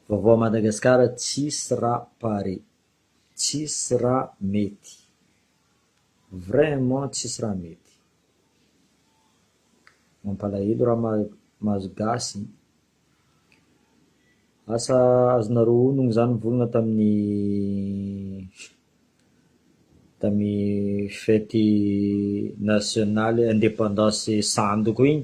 Vaovao Madagascar tsisy ra pare, tsisy ra mety, vraiment tsisy ra mety, mampalahelo ra mahazo gasy, asa azonareo onogno za nivolagna tamin'ny tamin'ny fety nationale independance sandoko igny.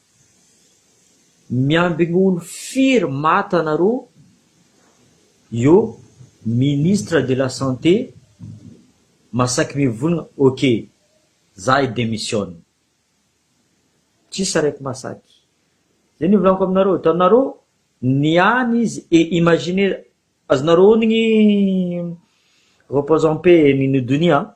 Miambigny olo firy maty anareo io ministre de la santé masaky mivolagna ok za hi demissionne tsisy araiky masaky zay nivolaniko aminareo hitanareo niany izy et imaginez azonareo onigny repose en paix Nini Donia a.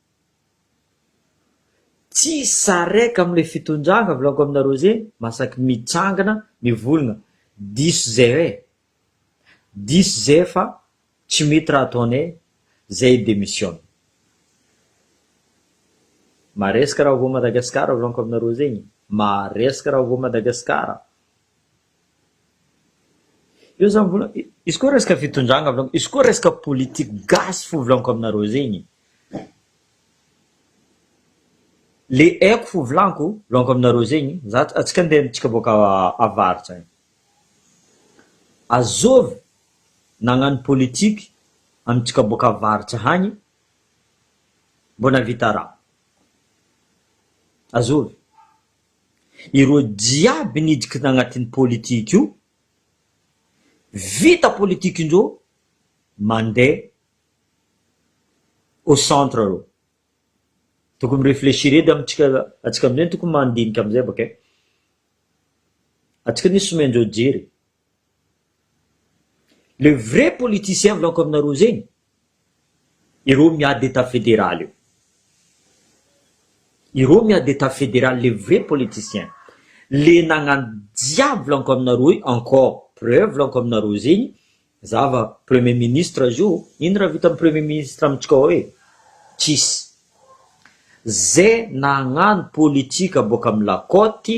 Tsisy sarec amle fitondrana volagniko aminareo ze masaky mitsangana mivolgna diso ze eh diso ze fa tsy mety raha ataonay zay demissionne maresaka raha voa Madagascar volagniko aminareo zegny maresaka raha voa Madagascar Eo zany vola, izy koa resaka fitondrana volaniko, izy koa resaka politique gasy fo volaniko aminareo zegny. Le haiko fo volaniko, volaniko aminareo zegny, za antsika ndeha antsika boaka avaratra agny, azôvy nagnano politique amintsika boaka avaratra agny mbô nahavita raha, azôvy. Ireo jiaby niditra tagnatin'ny politika io, vita politika indreo mandeha au centre reo. Tokony mi-reflechir edy amintsika atsika amizay tokony mandinika amizay baka e. Atsika anie somendreo jery e. Le vrai politicien volako aminareo zegny ireo miady etat federal io ireo miady etat federal le vrai politicien le nagnano jiaby volako aminareo io encore preuve volako aminareo zegny za va premier ministre azy io ino raha vita premier ministre amintsika ao e tsisy ze nagnano politika boaka amy la cote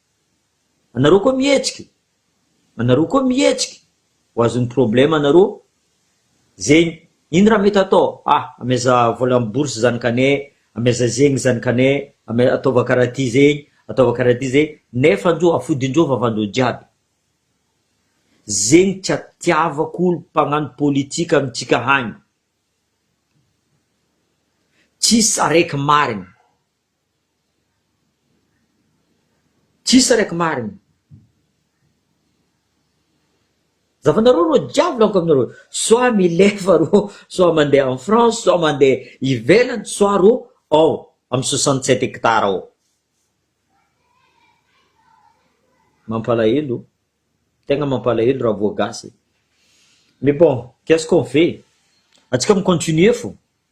Anareo koa mihetsika e! Anareo koa mihetsika ho azon'ny problème anareo zegny ino raha mety atao ah ameza vola am bourse zany kane ameza zegny zany kane ame ataova karaha ty zegny ataova karaha ty zegny nefa ndro afodindreo vavandreo jiaby zegny tsy atiavako olo mpagnano politika amintsika hagny tsisy araiky marigny. Tsisy sariaka marigny. Zavanareo rô jiaby laniko aminareo soit milefa rô soit mandeha en France soit mandeha ivelany soit rô ao am soixante sept hectare ao. Mampalahelo, tegna mampalahelo raha voa gasy e! Mais bon, qu'est-ce qu'on fait? Antsika mi-continuer fô.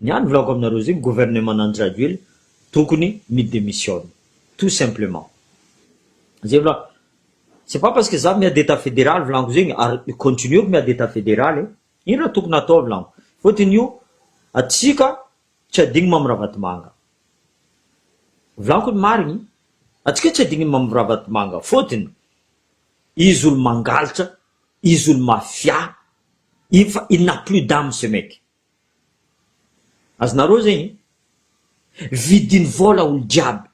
Ny ahy ny volako aminareo zay ny gouvernement an'i Rajoelina tokony mi demissionne tout simplement zay volako c'est pas parce que za miady etat federal volako zegny ary continueko miady etat federal e ino raha tokony atao volako fotony io atsika tsy adigno mamy ravatomanga volako ny marigny atsika tsy adigno mamy ravatomanga fotony izy olo mangaltra Izy olo mafia iny fa il n'a plus d'ame ce mec. Azonareo zegny? Vidiny vola olo jiaby.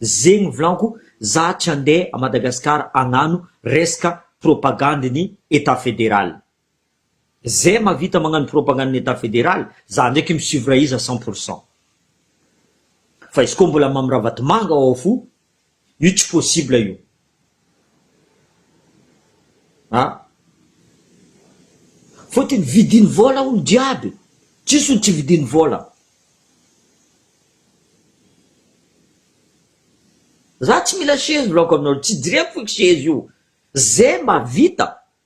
Zegny vlanko za tsy andeha a Madagascar agnano resaka propagande ny etat federal. Zay mavita magnano propagande ny etat federal za ndraiky mi suivre iza cent pour cent fa izy koa mbola mamy ravatomanga ao fo io tsy possible io a fotony vidiny vola olo jiaby tsisy olo tsy vidiny vola za tsy mila shez volako aminareo tsy jireko foiko shez io zay mavita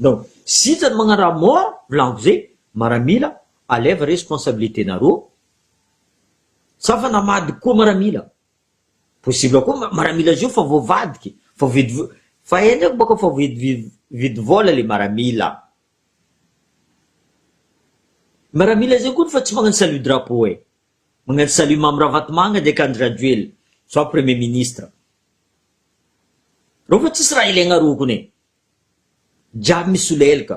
Donc zitra ny magnaraha mort volagnivo zay maramila alève responsabilité nareo sa fa namadika koa maramila possible koa ma maramila zio fa voavadika fa void vo fa eny ko baka fa void vi vidy vôla le maramila maramila zay koa fa tsy magnano salut drapeau e magnano salut mamy ravatomanga de ka andry rajoelina soit premier ministre Reo fa tsisy raha ilaigna rokony e. Jiaby misolelka.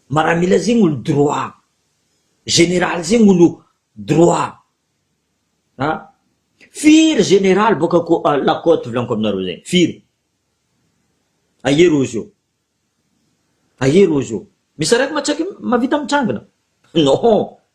Maramila zegny olo droit. Général zegny olo droit. A! Firy général boaka cô la côte volaniko aminareo zegny? Firy? Aia reo zô? Aia reo zô? Misy araiky ma tsaiky mavita mitrangina? Non!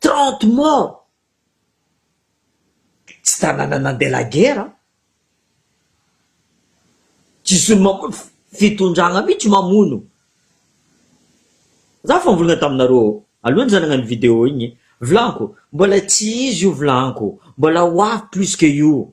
Trente morts! Tsy tanàna nandeha la guerre an! Tsy zony mamono fa fitondragna mitsy mamono! Za fa nivolagna taminareo aloha za nagnano video igny, vilagniko mbola tsy izy io vilagniko, mbola ho avy plus que io.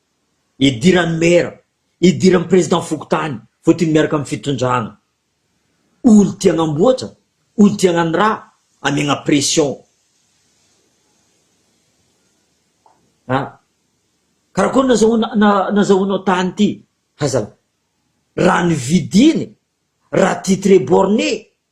Idiran'ny Maire, idiran'ny Président fokontany vao tiny miaraka amin'ny fitondrana. Olo tia hanamboatra, olo tia hanano ra, amiagna pression. A! Karakôry nazahoana na nazahoanao tany ty? Hazalahy. Raha ny vidiny, raha titre borne,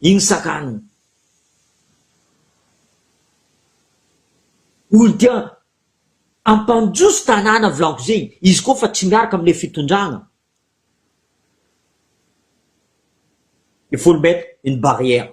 Iny sakany iny. Olo tia ampandroso tanàna volako zegny izy koa fa tsy miaraka amle fitondragna il faut le mettre une barrière.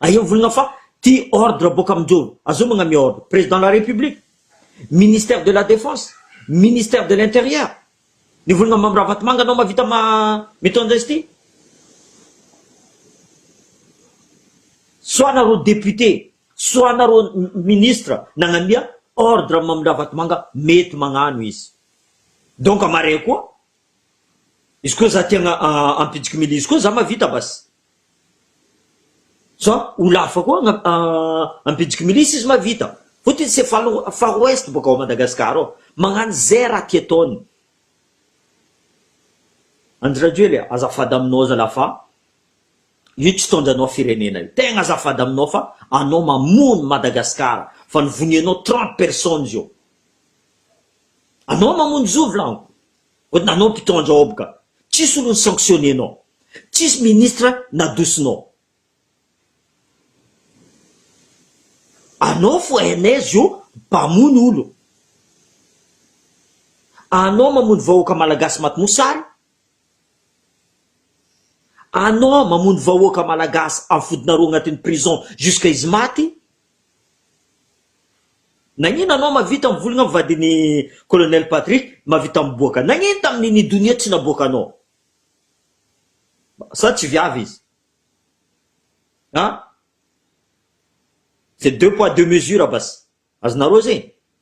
Aeo volana fa ty ordre boka aminjoro. Azao magnamia ordre. Président de la République. Ministère de la défense. Ministère de l'intérieur. Ny volana Mamy Ravatomanga anao mavita ma mitondra izy ty. Soit nareo député. Soit nareo ministre nagnamia ordre Mamy Ravatomanga mety magnano izy. Donc amarea koa. Izy koa za tiagna ampijokimily izy koa za mavita basy. Zao ho lava koa an Ambinjiky milisy izy mahavita Votre izy c'est far ouest boka ao Madagascar ao magnano zay raha tia ataony Andry Rajoely a azafady aminao zalah fa io tsy hitondra anao firenena io tegna azafady aminao fa anao mamono Madagascar fa ny vonianao trente personnes io anao mamono zovy laniko. Ohatry nanao ny mpitondra ob ka. Tsisy olo ny sanctionner nao. Tsisy ministre nadosinao. Anao fo hainaiz io mpamono olo. Anao mamono vahoaka malagasy maty mosary. Anao mamono vahoaka malagasy am fodinareo agnatin'ny prison jusqu'à izy maty. Nagnino anao mavita mivolagna am vadiny colonel patry mavita miboaka nagnino taminy ny donia tsy naboaka anao sa tsy viavy izy an c'est deux poids deux mesures basy azonareo zegny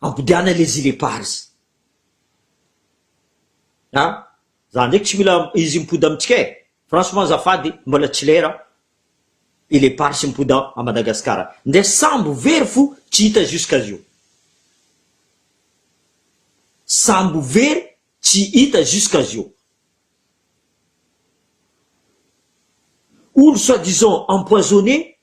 Ampodiana les îles éparses a! Za ndreky tsy mila izy mipody amintsika e! Franchement azafady mbola tsy lera îles éparses mipody à Madagascar ndre sambo very fo tsy hita jusqu'à zio! Sambo very tsy hita jusqu'à zio! Olo soit disant empoisonné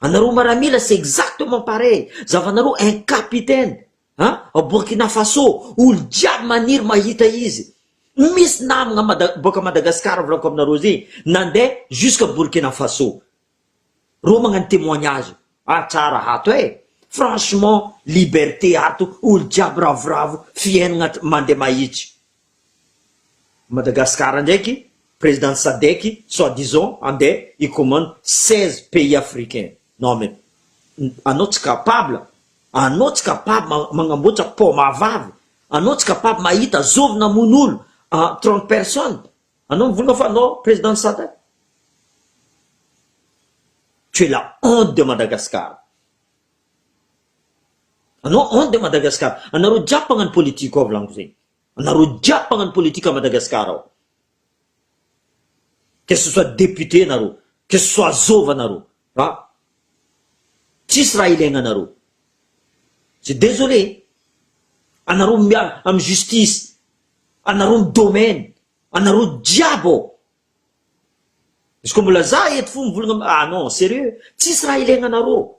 Anareo maramila c'est exactement pareil zavanareo un capitaine a ao Burkina Faso olo jiaby maniry mahita izy misy namagna mada boaka Madagascar volako aminareo izy nande jusque Burkina Faso reo magnano témoignage ah tsara ato eh franchement liberté ato olo jiaby ravoravo fiainagna mande mahitsy Madagascar ndraiky président sadec soit disant ande hi commande seize pays africain non mais anao tsy capable anao tsy capable magnamboatra paoma vavy anao tsy capable mahita zovy namono olo trente personne anao mivolagna fa anao président sadec tu es la honte de Madagascar anao honte de Madagascar anareo jiaby mpagnano politique ao volaniko zegny. Anareo jiaby mpagnano politique à Madagascar ao. Que ce soit député anareo, que ce soit zôva anareo fa tsisy raha ilaigna anareo. C'est désolé. Anareo miala am justice, anareo am domaine, anareo jiaby ao. Izy koa mbola za eto fo mivolagna ah non sérieux, tsisy raha ilaigna anareo.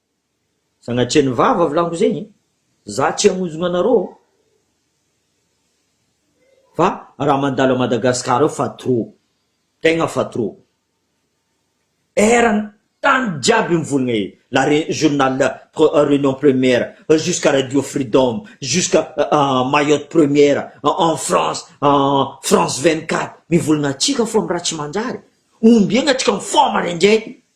Sanatria ny vava volako zegny za tsy hamonjogno anarô ô. Fa raha mandalo à Madagascar ao fa trop, tegna fa trop. Erany tany jiaby mivolagna e, la re- journal reunion première jusqu'à radio freedom, jusqu'à mayotte première, en France, France vingt quatre mivolagna antsika fô amin'ny raha tsy manjary, ombiagna antsika mifoha maraindray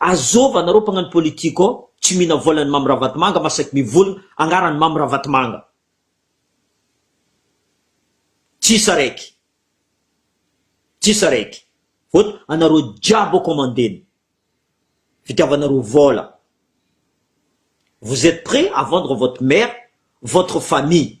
Azôva anareo mpagnano politique ô tsy mihina vôlan'ny Mamy Ravatomanga masaky mivolagna agnaran'ny Mamy Ravatomanga. Tsisy araiky. Tsisy araiky. Vot anareo jiaby ô kômandena. Fitiavanareo vôla. Vous etes près à vendre votre mère, votre famille.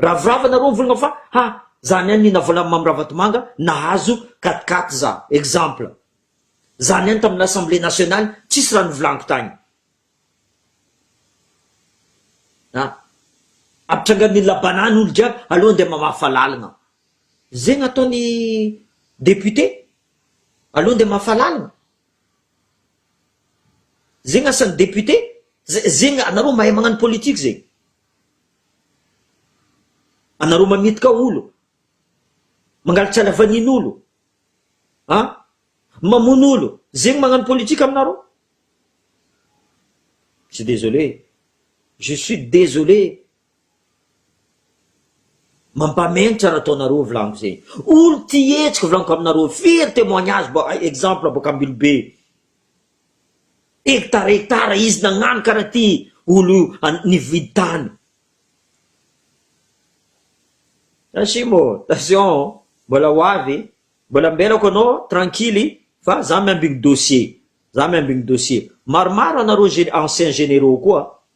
Ravorava nareo mivolagna fa ha za niany nihina vola Mamy Ravatomanga nahazo quatre quatre za exemple za niany tamin'ny l'assemblée nationale tsisy raha novolaniko tagny a ampitrangan'ny olona banane olo jiaby aleo andeha mamafa lalagna zegny ataony député aleo andeha mamafa lalagna. Zegny asan'ny député, zegny anareo mahay magnano politique zegny. Anareo mametka olo, mangalitry halavanin'olo, an, mamono olo, zegny magnano politique aminareo? Je suis désolé, je suis désolé. Mampamentra nataonareo vlaniko zay. Olo tia hetsika vlaniko aminareo. Firy temoignage ba exemple bôka Ambilobe. Hectare hectare izy nagnano karaha ty olo nividy tany. Asimo ô, attention ô, mbola ho avy, mbola ambelako anao tranquille fa za miambigny dossier, za miambigny dossier. Maromaro anareo gen- anciens généraux koa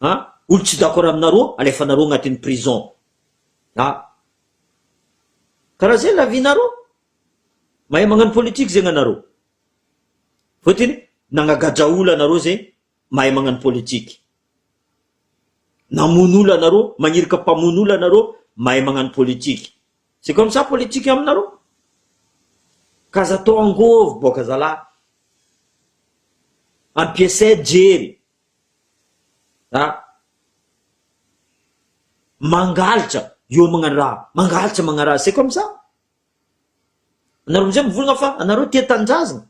Ha? Olo tsy d'accord aminareo alefanareo agnatin'ny prison. Ha? Karaha zay la vie nareo? Mahay magnano politique zegny anareo? Fotony nagnagadra olo anareo zay mahay magnano politique. Namono olo anareo, magniraka mpamono olo anareo mahay magnano politique. C'est comme ça politique aminareo? Ka aza atao angovo boka zalah. Ampiasay jery. Ra. Mangaltra, hiomagna ra, mangalatra magnaraha, c'est comme ça? Anareo amizay mivolagna fa anareo tia tanindrazagna,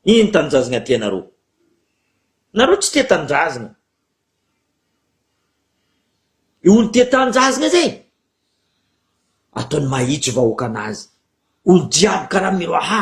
ino tanindrazagna tianareo? Nareo tsy tia tanindrazagna, le olo tia tanindrazagna zay ataony mahitsy vahoaka anazy, olo jiaby karaha miroaha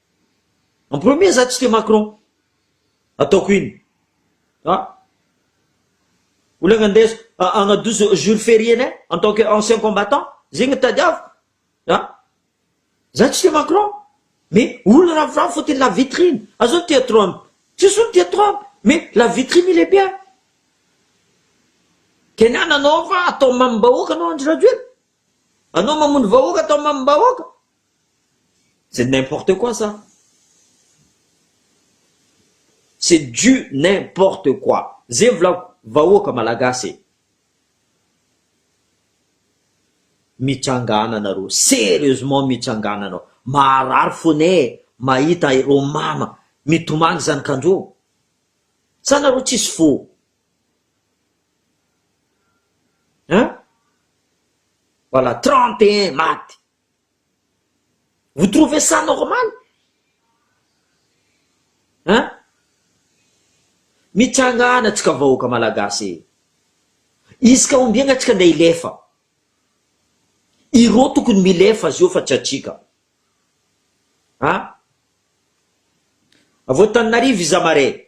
En premier za tsy tia Macron. Ataoko ino? A! Olana ndeso hagnadoso jour ferienay en tant que ancien combattant, zegny tadiaviko. A! Za tsy tia Macron mais olo ravoravo fôtony la vitrine. A zao tia Trump, tsisy olo tia Trump mais la vitrine il est bien. Keniana anao fa atao mamim-bahoaka anao Andry Rajoelina. Anao mamono vahoaka atao mamim bahoaka? C'est n'importe quoi ça. C'est du n'importe quoi. Zay volako vahoaka malagasy e. Mitranga ana nareo, serieusement mitranga ana anao. Maharary fone e mahita ireo mama mitomany zanakandreo. Sa nareo tsisy fo? An? Voilà, trente et un maty. Vous trouvez ça normal? An? Mitsangana antsika vahoaka malagasy e! Isika ombiagna antsika ndeha hilefa. Ireo tokony milefa azy eo fa tsy antsika. An? Avy ao Antananarivo iza marais?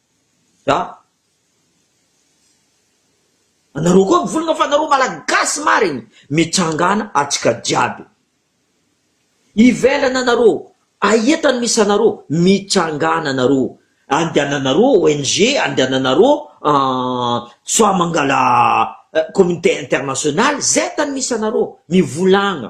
Za. Anareo koa mivolagna fa anareo malagasy marigny mitsangana atsika jiaby ivelagna anareo aia tany misy anareo mitsangana anareo andehananareo ONG andehananareo soa mangala communauté internationale zay tany misy anareo mivolagna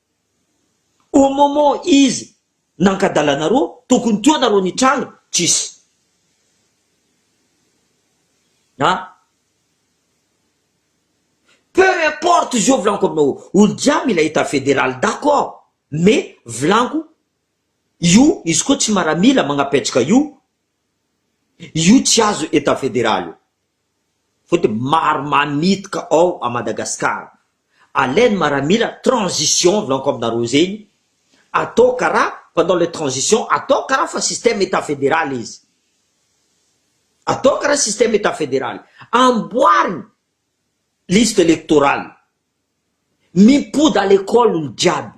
Au moment izy nankadala anareo tokony teo nareo nitranga tsisy a peu importe izy io volaniko aminao olo jiaby mila etat federal d'accord mais volaniko io izy koa tsy maramila magnapetraka io Io tsy azo etat federal io fa de maro mamitaka ao a Madagascar alainy maramila transition volaniko aminareo zegny atao kara pendant le transition atao kara fa système etat federal izy atao kara système etat federal amboarigny liste electorale mipody à l'école olo jiaby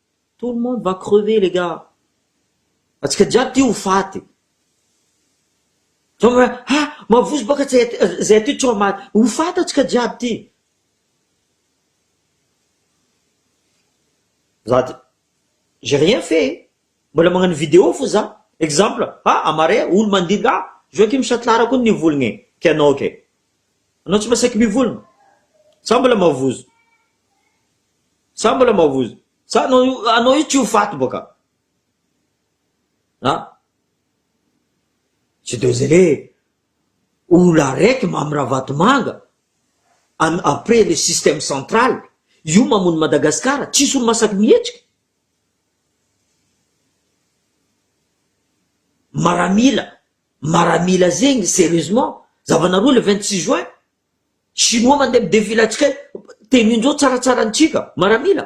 Tout le monde va crever les gars! Antsika jiaby ty ho faty! Zao hoe ha! Mavozo baka tsy hay izay atao tsy ho maty! Ho faty antsika jiaby ty! Za de j'ai rien fait e! Mbola magnano vidéo fo za! Exemple, ha amaré olo mandidy ha! Joachim Chatelard koa nivolagna e! Ka ianao kay! Anao tsy mba saiky mivolagna? Za mbola mavozo! Sa mbola mavozo? Sa anao io, anao io tsy ho faty boka? A? Tsy dezele. Olona araiky Mamy Ravatomanga an après le système central io mamono Madagascar tsisy olo masaky mihetsika. Maramila, maramila zegny sérieusement, zava-nareo le 26 juin? Chinois mandeha midevily antsika any, tenindreo tsaratsara antsika, maramila,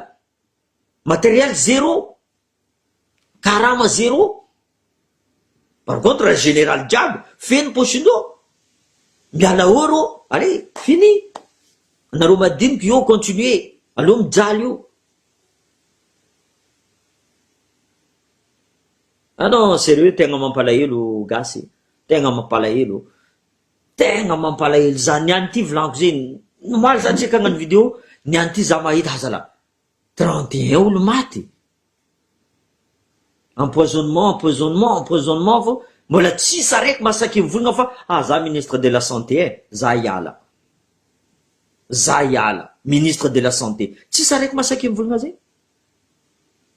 matériel zéro, karama zéro, par contre raha général jiaby feno pochindreo, miala eo reo, allez fini, anareo madiniky eo continuer, aleo mijaly eo. Ah non, sérieux tegna mampalahelo gasy, tegna mampalahelo, Tegna mampalahelo za niany ty vilanko ze nomaly za check agnano video niany ty za mahita ha zala trente et un olo maty empoisonnement empoisonnement empoisonnement fô mbola tsisy araiky masaky mivolagna fa ah za ministre de la santé eh za hiala za hiala ministre de la santé tsisy araiky masaky mivolagna ze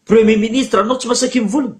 premier ministre anao tsy masaky mivolagna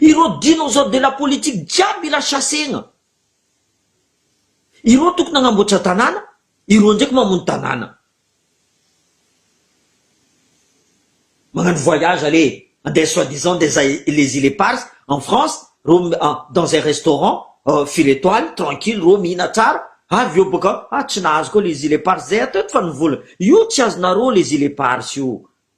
Ireo dinosaures de la politique jiaby lasa segna. Ireo tokony hanamboatra tanàna, ireo ndraiky mamono tanàna. Magnano voyage ale andeha soit disant andeha les îles éparses en France reo dans un restaurant firy étoile tranquille reo mihina tsara avy eo boka ah tsy nahazo koa les îles éparses zay atao eto fa ny vola io tsy azonareo les îles éparses io.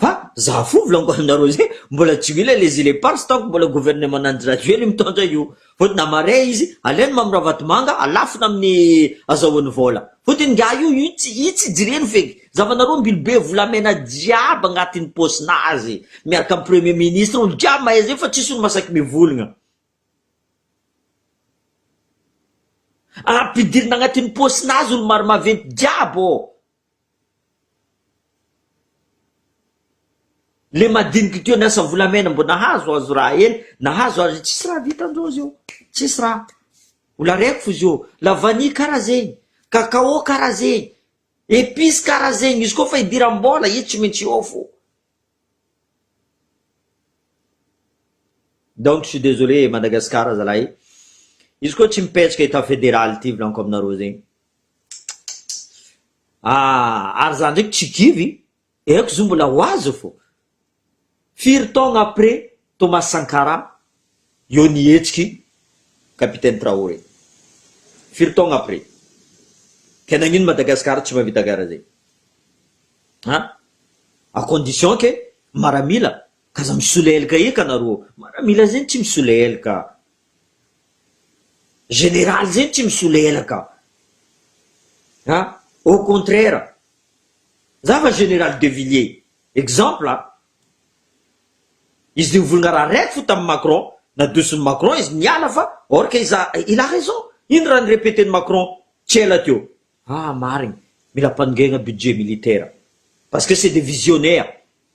Fa za fo volaniko aminareo zay mbola tsy mila les îles éparses tant que mbola gouvernement Andry Rajoely mitondra io fa na marais izy aleo ny Mamy Ravatomanga alafona amin'ny azahoany vola fa de ingahy io io tsy io tsy jireny feky za fa nareo mbily be volamena jiaby agnatin'ny paosinazy miaraka amin'ny premier ministre olo jiaby mahay zay fa tsisy olo masaky mivolgna ampidirina agnatin'ny paosinazy olo maro maventy jiaby ô. Le madiniky teo niasa volamena mbo nahazo azo ra ela nahazo azo tsisy ra vita ndreo zeo tsisy ra mbola reko fo zeo la vanille kara zegny cacao kara zegny epice kara zegny izy koa fa idiram bola i tsy mintsy eo fo donc suis desolee Madagascar zalahy izy koa tsy mipetraka etat federal ty volaniko aminareo zegny Ah ary za ndraiky tsy kivy eh, aiko zo mbola ho azy fô. Firy taogna après Thomas Sankara eo nihetsiky Capitaine Traoré? Firy taogna après? Ke nagnino Madagascar tsy mahavita karaha zay? Ha? A condition ke maramila k'aza misoleelka eka nareo, maramila zay tsy misoleelka. Général zeny tsy misolelaka a! au contraire za fa général de villiers exemple a! izy nivolgna raha raiky fo tamin'i Macron nadoson'i Macron izy niala fa or que iza il a raison ino raha ni-repeten'i Macron tsy ela teo ah marigny mila ampanongegna budget militaire parce que c'est des visionnaires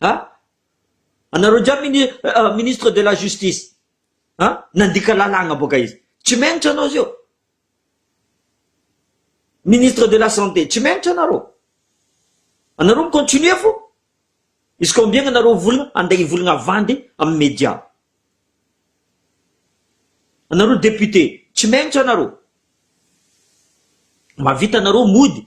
Ah? Anareo jiaby mini- ah, ministre de la justice. Ah? Nandika lalàgna boka izy. Tsy menatra anao zio. Ministre de la santé, tsy menatra anareo. Anareo mi-continuer fo. Izy ka ombiagna anareo volagna, andeha hivolagna avandy amin'ny média. Anareo député, tsy menatra anareo. Mahavita anareo mody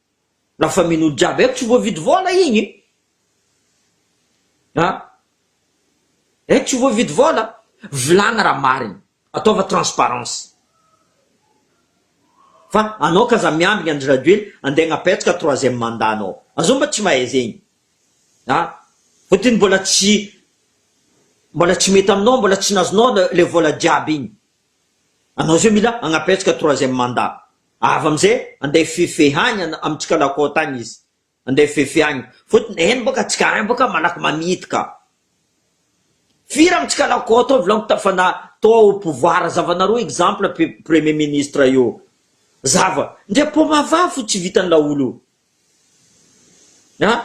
Lasa mino jiaby eto tsy voavidy vola igny a! Eto tsy voavidy vola, vilagna raha marigny, ataova transparence. Fa anao ka aza miambigny Andry Rajoely andeha agnapetraka troisième mandat nao, azao mba tsy mahay zegny a! Fotony mbola tsy mbola tsy mety aminao, mbola tsy nazonao le vola jiaby igny, anao zao mila agnapetraka troisième mandat, Avy amzay andeha fifehy agny am tsikalakôta agny izy andeha fifehy agny fotony neny bôka tsikaray bôka malaky mamidy ka firy am tsikalakôta ao vilagniko tafa na tô au pouvoir zavanareo exemple pe premier ministre io zava ndre poma vavy fo tsy vitan laolo io an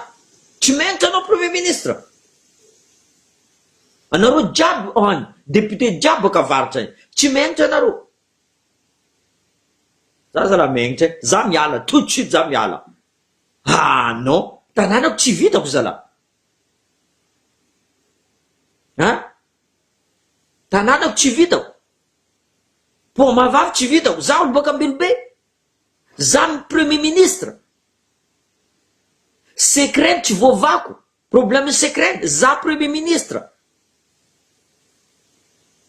tsy mentsy anao premier ministre anareo jiaby any depute jiaby bôka avaratra any tsy mentsy anareo Za zala mengitra eh, za miala tout de suite za miala ah non, tananako tsy vitako zala an, tananako tsy vitako, paoma vavy tsy vitako, za olo baka Ambilobe, za ny premier ministre, secret tsy voavako, Problème secret za premier ministre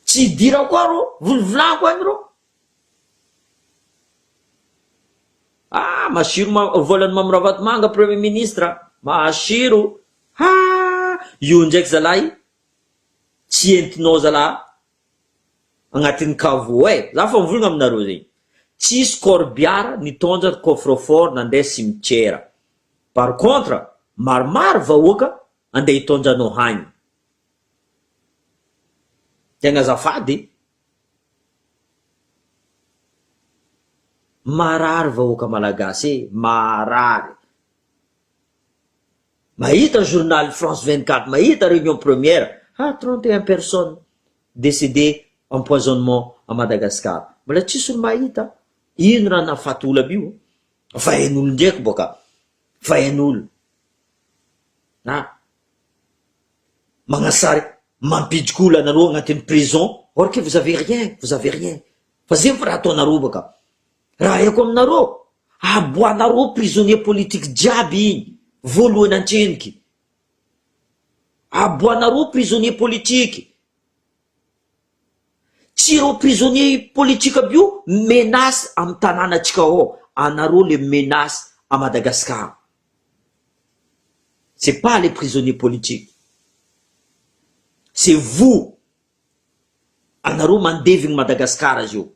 tsy hidirako ao rô volovolako any rô ah masiro ma volany mamy ravatomanga premier ministre masiro ha io ndraiky zalahy tsy entinao zalahy agnatin'ny caveau e! Za fa mivolagna aminareo zegny, tsisy corbiara nitondra coffre fort nandeha cimetière, par contre maromaro vahoaka andeha hitondra anao hagny, tegna azafady e! marary vahoaka malagasy e! marary. Mahita journal France 24, mahita réunion première, ha trente et un personnes décédé empoisonnement à Madagascar, mbola tsisy olo mahita, ino raha nahafaty olona aby io, vahenolo ndreky boka, vahenolo, ha magnasary mampidriky olo anareo agnatiny prison, or que vous avez rien, vous avez rien, fa zegny fa raha ataonareo boka, Raha aiko aminareo, aboahanareo prisonnier politique jiaby iny voalohany antreniky. Aboahanareo prisonnier politique. Tsy ireo prisonnier politique aby io menace am tananatsika ao, anareo le menace à Madagascar. C'est pas les prisonniers politiques. C'est vous, anareo mandevigny Madagascar zio.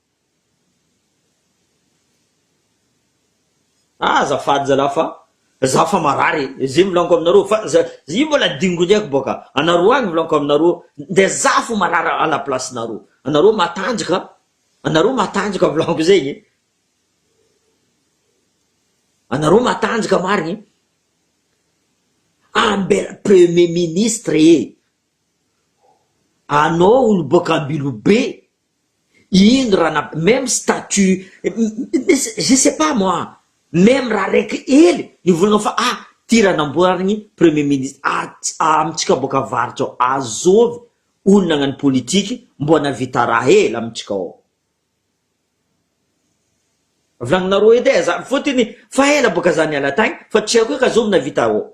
Ah azafady zalah fa za fa marary e, ze milanko aminareo fa za io mbola dingony aiko boaka anareo agny milanko aminareo de za fo marary à la place nareo, anareo matanjaka anareo matanjaka milanko zegny e, anareo matanjaka marigny ambela premier ministre e, anao olo boaka Ambilobe. I Indra na même statut je sais pas moi même raha raiky hely ny volana fa ah ty raha namboarigny premier ministre ah amitsika boaka avarotra ao azovy olona agnano politique mboa navita raha hely amitsika ao volagninareo edy eh za fotiny fa ela boaka za niala tagny fa tsy haiko eka azovy navita ao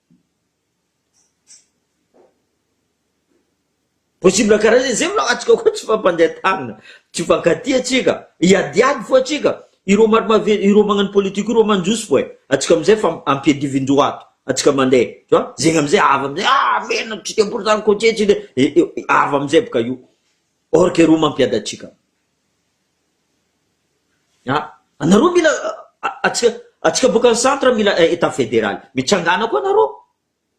Possible karaha zay, zay mbola antsika koa tsy mifampandeha tanana, tsy mifankatia tsika, hiadiady foa tsika, ireo marimaventy, ireo magnano politique ireo mandroso foa e, antsika amizay fa ampiadivin'dreo ato, antsika mandeha, tu vois, zegny amizay avy amizay ah venona tsy tiampo zany cotier tsy tiampo, avy amizay boka io, or que reo mampiady antsika. Ah! Anareo mila atsika atsika boka ny centre mila etat federal mitsangana koa anareo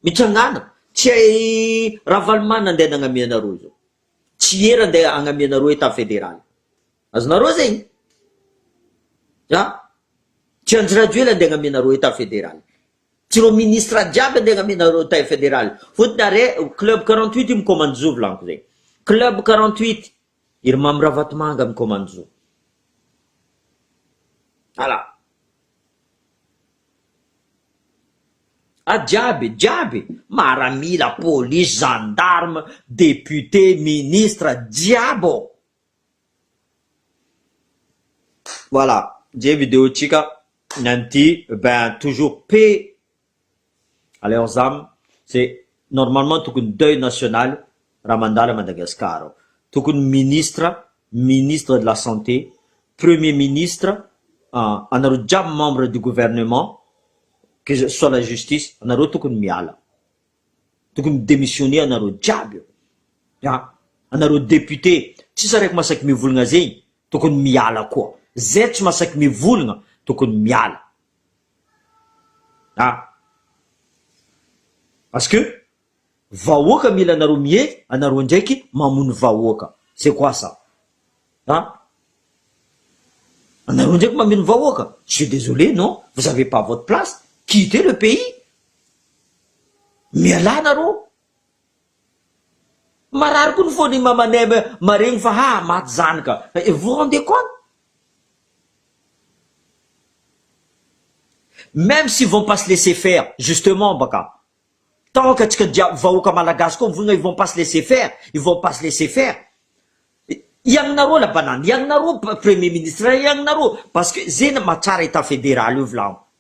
mitsangana tsy hay Ravaloman andeha nagnamia anareo zao tsy hery andeha agnamia anareo etat federal azonareo zegny ah tsy Andry Rajoely andeha agnamia anareo etat federal tsy ireo ministra jiaby andeha agnamia anareo etat federal fotony are club quarante huit io mi-commande zo volaniko zegny club quarante huit. I ry Mamy Ravatomanga Mikomanjo. Ala. Ady jiaby e, jiaby e, maramila, police, gendarme, député, ministre, jiaby ô. Voilà, je video tsika ny an'ity, ben toujours paix Aleo zam ze normalement tokony deuil national raha mandalo à Madagascar ao. Tokony ministre, ministre de la santé, premier ministre, ah anareo jiaby membre du gouvernement que ce soit la justice anareo tokony miala. Tokony mi demissionner anareo jiaby eo. An! Anareo député tsisy araiky masaky mivolagna zegny tokony miala koa. Zay tsy masaky mivolagna tokony miala. Ah! Parce que vahoaka mila anareo mihehy anareo ndraiky mamono vahoaka c'est quoi ça ah! Anareo ndraiky mameno vahoaka je suis désolé non vous avez pas votre place quittez le pays mialà anareo Marary koa ny fon i maman aime maregny fa ha maty zanaka et vous rendez compte? Meme s'ils vont pas se laisser faire justement baka tant ka tsika jiaby vahoaka malagasy koa mivonona ils vont pas se laisser faire ils vont pas se laisser faire iagnareo la banane iagnareo premier ministre iagnareo parce que ze mahatsara etat federal io volagno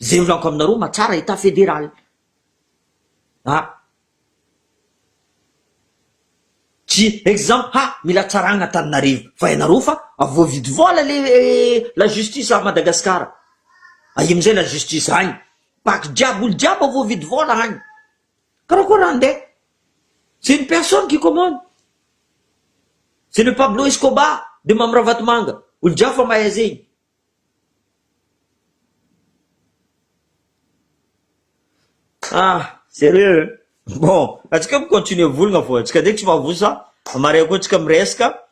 Zay miranko aminareo matsara état fédéral a! Tsy exemple ha mila tsaragna Antananarivo fa ianareo fa voavidy vola le la justice à Madagascar aia amizay la justice agny baky jiaby olo jiaby voavidy vola agny karakory raha nde c'est une personne qui commande c'est le Pablo Escobar de Mamy Ravatomanga olo jiaby fa mahay zegny Ah, sérieux? Bon, antsika mi-continuer volagna fô, antsika ndraiky tsy mavosa, maria koa antsika miresaka,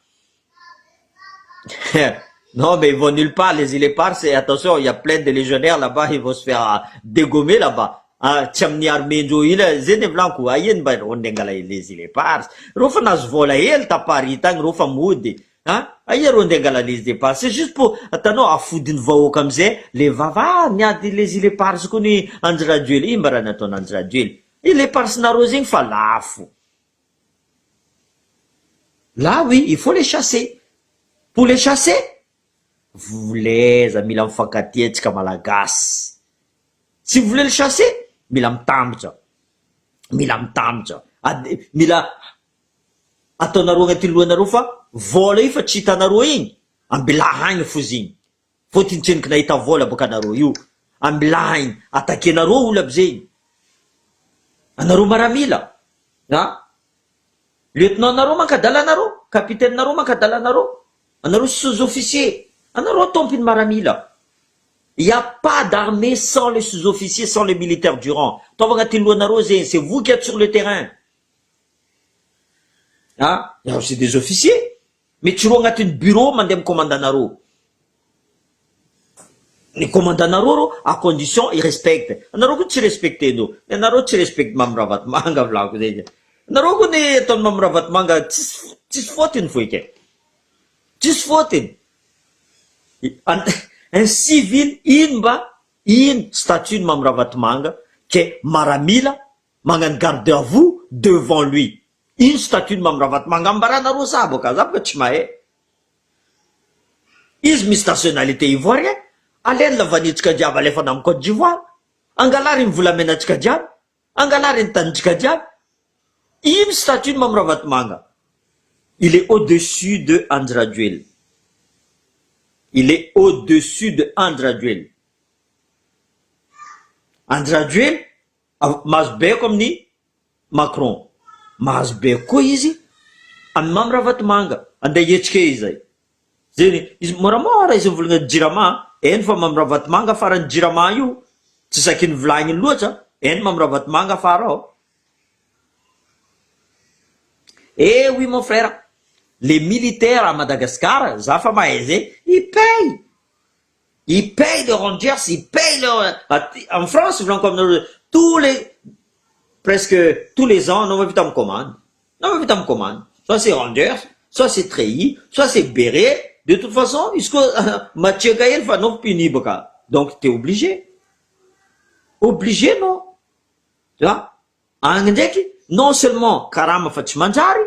non mais il va nulle part les îles éparses et attention il y a plein de légionnaires là bas ils vont se faire dégommer là bas, ah tsy amin'ny armée-ndreo ila, zay ny volaniko, aia ny mba reo handeha hangala les îles éparses, reo fa nahazo vôla hely ta Paris tagny reo fa mody, A! aia rô ndeha angala les departs, c'est juste pour atanao afody ny vahoaka amizay le vava ah miady les ilepars kony Andry Rajoely, inona mba raha nataon Andry Rajoely, ilepars nareo zegny fa lafo, là oui il faut les chasser, pour les chasser voleza mila mifankatia tsika malagasy, si vous voulez les chasser mila mitambatra, mila mitambatra, mila ataonareo agnaty lohanareo fa vôla io fa tsy hitanareo igny ambilaha agny foza igny vao tintsenoky nahita vôla bôka anareo io ambilaha igny atakenareo olo aby zegny anareo maramila a lieutenant nareo manka adalanareo capitaine nareo manka adalanareo anareo sous officier anareo ataompiny maramila il y'a pas d'armée sans les sous officiers sans les militaires durant ataovy agnaty lohanareo zegny c'est vous qui êtes sur le terrain Ah ianareo c'est des officiers? Mety tsy roa agnatin'ny bureau mandeha amin'ny commandant-nareo. Ny commandant-nareo rô à condition i-respecte anareo koa tsy respecter-ndreo. Ny anareo tsy respect Mamy Ravatomanga volako zay izy. Nareo koa ny ataon'i Mamy Ravatomanga tsisy tsisy faute ny vohika e. Tsisy faute ny. An un civil ino mba ino statut-n'i Mamy Ravatomanga ke maramila Magnano garde à vous devant lui. Ino statut ny Mamy Ravatomanga? Ambaranareo sahy boka, za boka tsy mahay. Izy misy nationalité ivoirien, aleny lavanitsika jiaby alefana am Cote d'Ivoire, angalà reny volamenatsika jiaby, angalà reny tanintsika jiaby. Ino statut ny Mamy Ravatomanga? Il est au dessus de Andry Rajoelina. Il est au dessus de Andry Rajoelina. Andry Rajoelina Mahazo baiko amin'ny Macron. Mahazo baiko koa izy amin'ny Mamy Ravatomanga. Andeha hietsikee izay. Zeny, izy moramora izy mivolagna ny Jirama, eny fa Mamy Ravatomanga afara ny Jirama io tsy zakin'ny vilagny loatsa, eny Mamy Ravatomanga afara ao. Eh oui mon frère, les militaires à Madagascar, za fa mahay zay, ils payent! i paye le rangers i paye le aty en France volaniko aminareo tous les presque tous les ans anao mahavita mikomandy anao mahavita mikomandy soit c'est rangers soit c'est treillis soit c'est bere de toute façon izy koa matriaka hely fa anao mpinibaka donc t'es obligé obligé anao tu vois agny ndraiky non seulement karama fa tsy manjary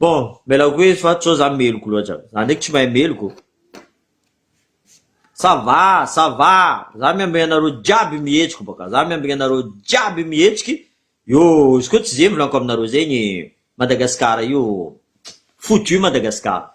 Bon, mila koa izy fa tsy zao za meloky loatra. Za ndraiky tsy mahay meloky ô. Ça va, ça va, za miambigny anareo jiaby mihetsiky bôka, za miambigny anareo jiaby mihetsiky, io izy koa tsy ze volaniko aminareo zegny, Madagasikara io, foutu Madagasikara.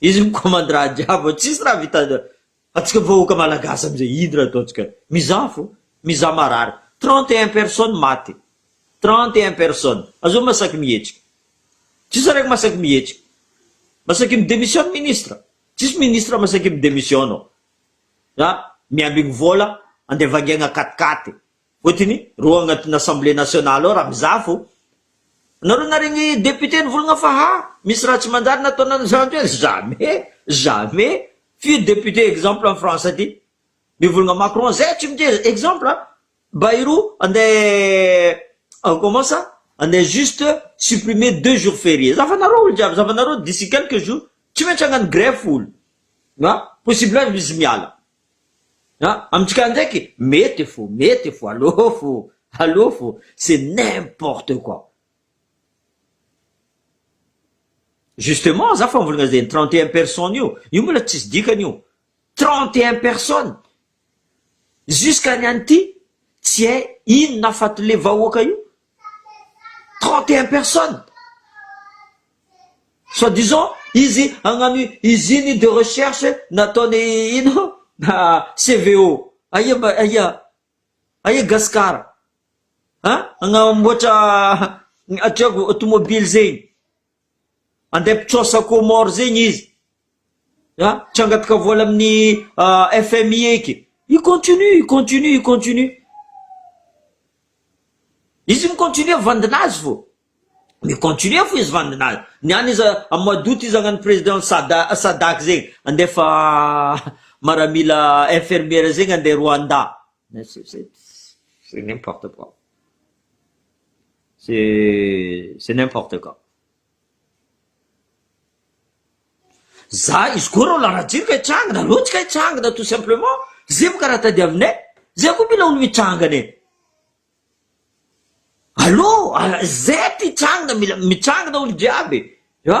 Izy no commande raha jiaby tsisy raha vita atsika vahoaka malagasy amizay ino raha ataontsika mizaha fo mizaha marary trente et un personnes maty trente et un personnes azao masaky mihetsika tsisy araiky masaky mihetsika masaky mi demissionne ministre tsisy ministre masaky mi demissionne a miambigny vola andeha vangiagna quat quatre Voatiny ro agnatin'ny assemblée nationale ao raha mizaha fô nareo naregny député nivolagna fa ha misy raha tsy manjary nataony any zany toerana jamais jamais firy député exemple any France aty mivolagna Macron zay tsy miteza exemple a Bayrou andeha comment ça andeha juste supprimer deux jours fériés za fa nareo olo jiaby za fa nareo d'ici quelques jours tsy maintsy agnano grève olo na possible aza izy miala Ah amintsika ndraiky mety fo mety fo allo fo allo fo c'est n'importe quoi. Justement za fambolagna zegny trente et un personnes io, io mbola tsisy dikany io, trente et un personnes jusqu'à ny an'ity tsy hay inona afaty le vahoaka io Trente et un personnes! Soit disant izy hagnano usine de recherche nataony ino CVO. Aia mba aia? Aia Gasikara? An? Hagnamboatra atreako tomobily zegny. Andeha mpitraosa Comores zegny izy. A, tsy hangataka vola amin'ny FMI eky. I continue, i continue, i continue. Izy mi-continue vandinazy fo. Mi-continue fo izy vandinazy. Ny any izy amin'ny mois d'août izy hagnano président sada- SADAC zegny. Andefa maramila infirmière zegny andeha Rwanda. C'est n'importe quoi. C'est c'est n'importe quoi. Za izy koa reo larajiro ka hitrangana reo tsy ka hitrangana tout simplement zay mo ka raha tadiavinay zay koa mila olo mitrangana e allo zay ty hitrangana mila mitrangana olo jiaby a